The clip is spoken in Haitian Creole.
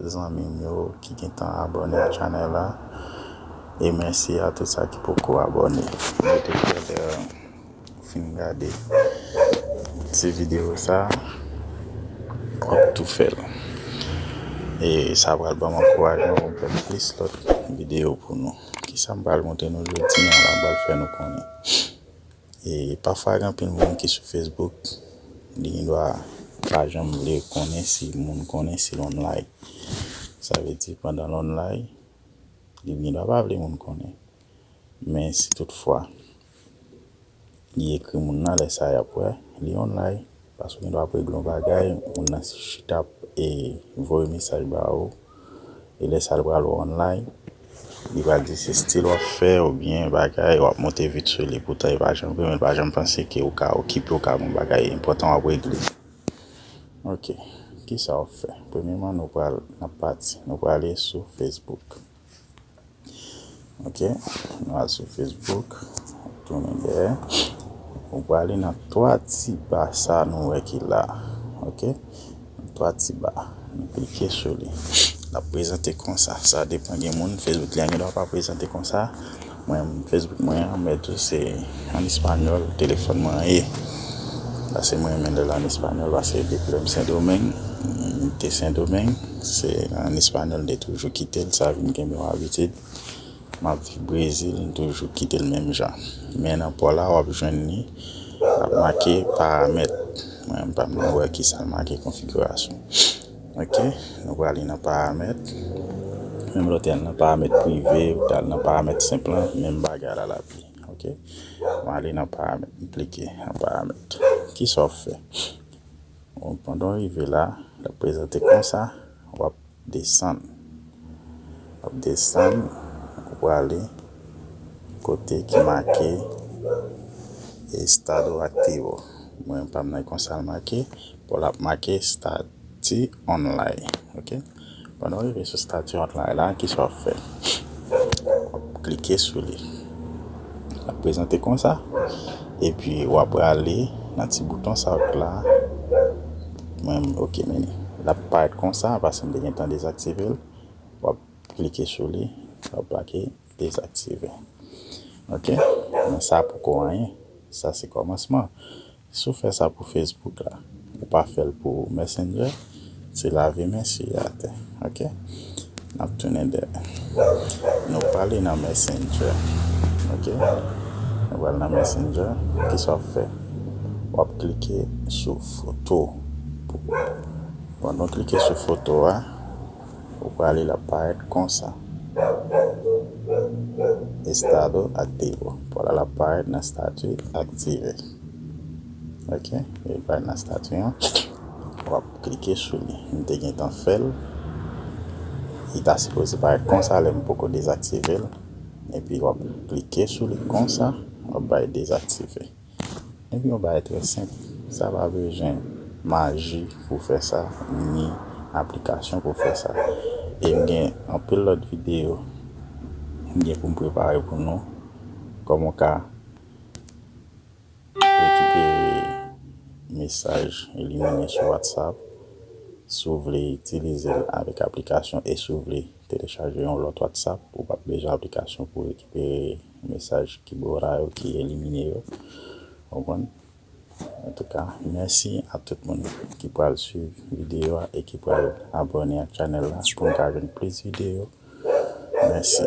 zanmim yo ki gentan abòne a chanèl la e mèsi a tout sa ki poko abòne mete kè lè fin gade ti video sa wap tou fèl e sa pral banm ankourajman poum fè plis lòt video pou nou kisam pral montre nou jodi an la pral fè nou konnen. E pafwa gen anpil moun ki sou Facebook, li gen dwa pa janm vle konnen si moun konnen si l online. Sa vle di pandan l online, li gen dwa pa vle moun konnen. Men si tout fwa, li ekri moun nan lè sa y ap wè, li online. Paske w gen dwa ap regle yon bagay, moun nan chita ap voye mesaj ba ou. e lè sa li pral wè online li pral di se stil wap fè oubyen bagay wap monte vit sou li poutan e pa janm vre menl pa janm panse ke ou ka okipe ou ka gon bagay enpòtan wap regle ok kisa wap fè premyeman nou pral nan pati nou prale sou Facebook. Ok nou al sou Facebook tounen dèyè nou prale nan 3 ti ba sa nou wè ki la ok 3 ti ba nou klike sou li lap prezante konsa sa depan gen moun Facebook lan gen dwa pa prezante konsa mwen menm Facebook mwen an mwen tou se an español telefòn mwen an ye pase mwen renmen lèl an español pase depi lèm sendomeng m te sendomeng. Se an espanyòl de toujou kite l, sa vin kenbe yon abitid. M ap viv Brezil, m toujou kite l menm jan. Men nan pò la w ap jwenn li, l ap make paramèt. Mwen menm m pa menm wè ki sa l make konfigirasyon. Ok, nou prale nan paramèt. Menm lè w te al nan paramèt prive, ou te al nan paramèt senp lan, menm bagay a la l ap di. Ok, mwen ale nan paramèt, m klike nan paramèt. Ki sa w fè? Pandan w rive la, l ap prezante konsa, w ap desann. W ap desann, ou prale kote ki make Estado Activo. Mwen pa m nan e konsa l make, bon l ap make Stati Online. Lè nou rive sou stati Hotline la, kisa w ap fè? W ap klike sou li. L ap prezante konsa. Epi w ap prale nan ti bouton sa k la. Mwen ok men l ap parèt konsa paske m te gentan dezaktive l. W ap klike sou li, w ap make dezaktive. Ok, men sa poko anyen. Sa se kòmansman. Si w fè sa pou Facebook la, ou pa fè l pou Messenger, se lave men siye atè. Ok. N ap tounen dèyè. Nou prale nan Messenger. Ok. Nou pral nan Messenger. Kisa w ap fè? W ap klike sou foto. Lè nou klike sou foto a, ou prale l ap parèt konsa. Estado aktivo. Ou prale l ap parèt nan Estati aktive. Ok li pral nan statut an wap klike sou li m te gentan fèl li ta sipoze parèt konsa lèm poko dezaktivel epi wap klike sou li konsa wap bay dezaktive epi yon bagay trè senp sa pa bezwen maji pou fè sa ni aplikasyon pou fè sa e m gen anpil lòt video m gen pou m prepare pou nou kòman w ka Rekipere mesaj Eliminé sou WhatsApp si w vle itilize l avèk aplikasyon e si w vle telechaje yon lòt WhatsApp, ou pap bezwen aplikasyon pou rekipere mesaj Kibora yo ki elimine yo. Ou konprann? Antouka, mèsi a tout moun ki pral swiv videyo a e ki pral abòne ak chanèl la pou n ka jwenn plis videyo. Mèsi.